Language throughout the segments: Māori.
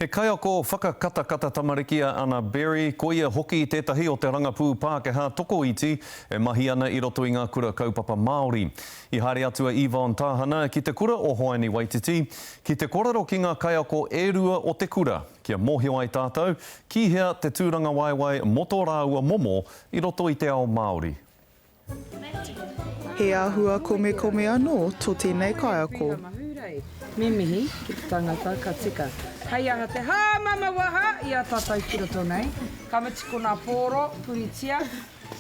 He kaiako whakakatakata tamariki a Anna Berry, koia hoki tētahi o te rangapū Pākehā tokoiti e mahi ana i roto i ngā kura kaupapa Māori. I haere atu a Yvonne Tāhana ki te kura o Hoani Waititi ki te kōrero ki ngā kaiako e rua o te kura, kia mōhio ai tātou ki hea te tūrangawaewae mō tō rāua momo i roto i te ao Māori. He āhua komekome anō tō tēnei kaiako. Tēnā mahi rei. Me mihi ki te tangata ka tika. Hei aha te hā mama waha i a tātou ki roto nei. Ka mutu ko ngā pōro, puritia,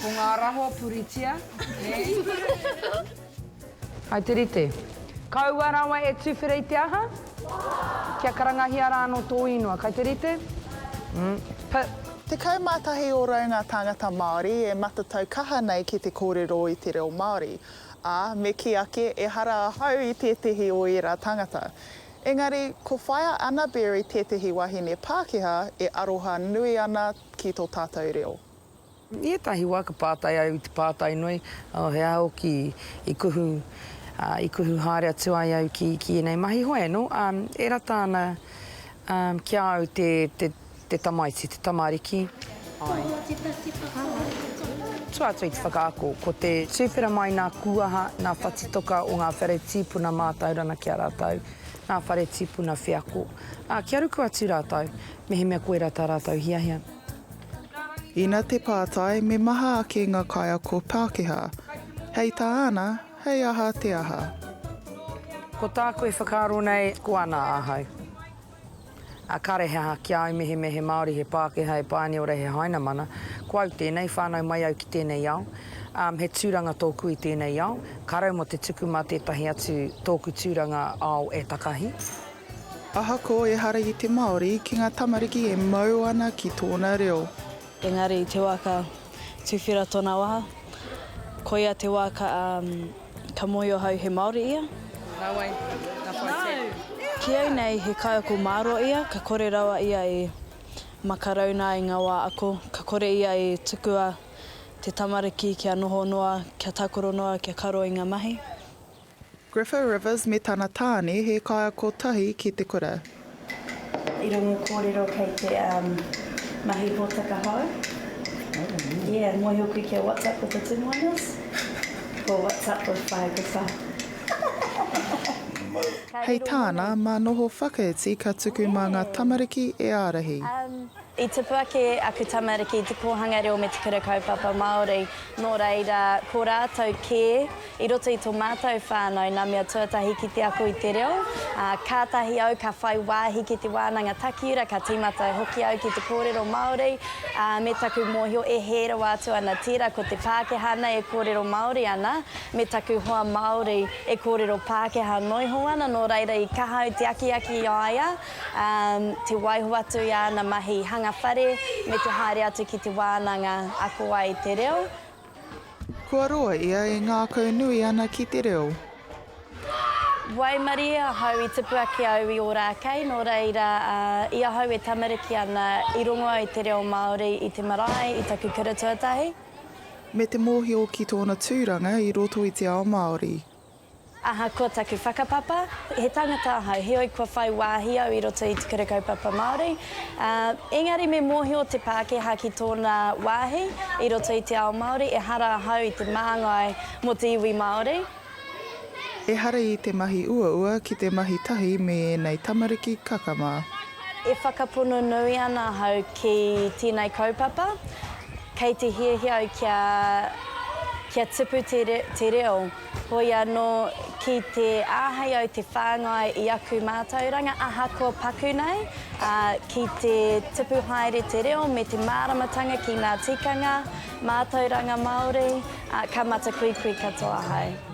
ko ngā raho puritia, nē. Hai te rite. Kaua rawa e tuwhera i te aha? Kia karangahia rā anō tō īngoa. Kai te rite? P. Tekau mā tahi ōrau ngā tāngata Māori e matatau kaha nei ki te kōrero i te reo Māori, ā, me kī ake ehara ahau i tētehi o ērā tāngata. Engari, ko Whaea Anna Berry tētehi wahine Pākehā e aroha nui ana ki tō tātou reo. I ētahi wā ka pātai au i te pātai nui, oh, he aha hoki i kuhu, uh, i kuhu haere atu ai au ki, ki ēnei mahi? Hoi anō, um, e rata ana um, ki a au te, te, te tamaiti, te tamariki. Tua atu i te whakaako, ko te tūwhera mai nā Kūaha, nā Whatitoka o ngā whare tīpuna mātaurana ki a rātou, nā whare tīpuna wheako, ā, kia ruku atu rātou, mehemea koirā tā rātou hiahia. Ina te pātai, me maha ake ngā kaiako Pākehā. Hei tā ana, hei aha te aha. Ko tāku e whakaaro nei, ko ana ahau. A kare he aha ki au mehemea he Māori, he Pākehā, he Pāniora, he Hainamana, ko au tēnei, whānau mai au ki tēnei ao, um, he tūranga tōku i tēnei ao, ka rau mō te tuku mā tētahi atu tōku tūranga ao e takahi. Ahakoa ehara i te Māori ki ngā tamariki e mau ana ki tōna reo. Engari i te wā ka tuwhera tōna waha, koia te wā ka ka mōhio hau he Māori ia. Nāwai, ka whai take. Ki au nei he kaiako mārō ia, ka kore rawa ia e makarauna i ngā wā ako, ka kore ia e tukua te tamariki kia noho noa, kia tākoro noa, kia karo i ngā mahi. Grifo Rivers me tana tāne he kaiako tahi ki te kura. I rongo kōrero kei te mahi hōtaka hou. Yeah, mōhio koe kia what's up with the Tim Wainas? Ko what's up with Pae Kotau. Hei tāna, mā noho whakaiti ka tuku mā ngā tamariki e ārahi. I tupu ake aku tamariki i te kōhanga reo me te kura kaupapa Māori, nō reira, ko rātou kē, i roto i tō mātou whānau, nā mea tuatahi ki te ako i te reo, ā, kātahi au ka whai wāhi ki te wānanga takiura, ka tīmata hoki au ki te kōrero Māori, ā, me taku mōhio e hē rawa atu ana tērā ko te Pākehā nei e kōrero Māori ana, me taku hoa Māori e kōrero Pākehā noiho ana, nō reira, i kaha au te akiaki i a ia. te waiho atu i āna mahi hanga whare me te haere atu ki te wānanga ako ai i te reo. Kua roa ia e ngākau nui ana ki te reo. Waimarie ahau i tipu ake au i Ōrākei, nō reira, i ahau e tamariki ana, i rongo au i te reo Māori i te marae, i taku kura tuatahi. Me te mōhio ki tōna tūranga i roto i te ao Māori. Ahakoa taku whakapapa, he tangata ahau, heoi kua whai wāhi au i roto i te Kura Kaupapa Māori, ā, engari me mōhio te Pākehā ki tōna wāhi i roto i te ao Māori, ehara ahau i te māngai mō te iwi Māori. Ehara i te mahi uaua ki te mahi tahi me ēnei tamariki kakama. E whakapono nui ana ahau ki tēnei kaupapa. Kei te hiahia au kia, kia tupu te, te reo, hoi anō ki te āhei au te whāngai i aku mātauranga ahakoa paku nei, ā, ki te tupu haere te reo me te māramatanga ki ngā tikanga, mātauranga Māori, ā, ka matakuikui katoa ahau.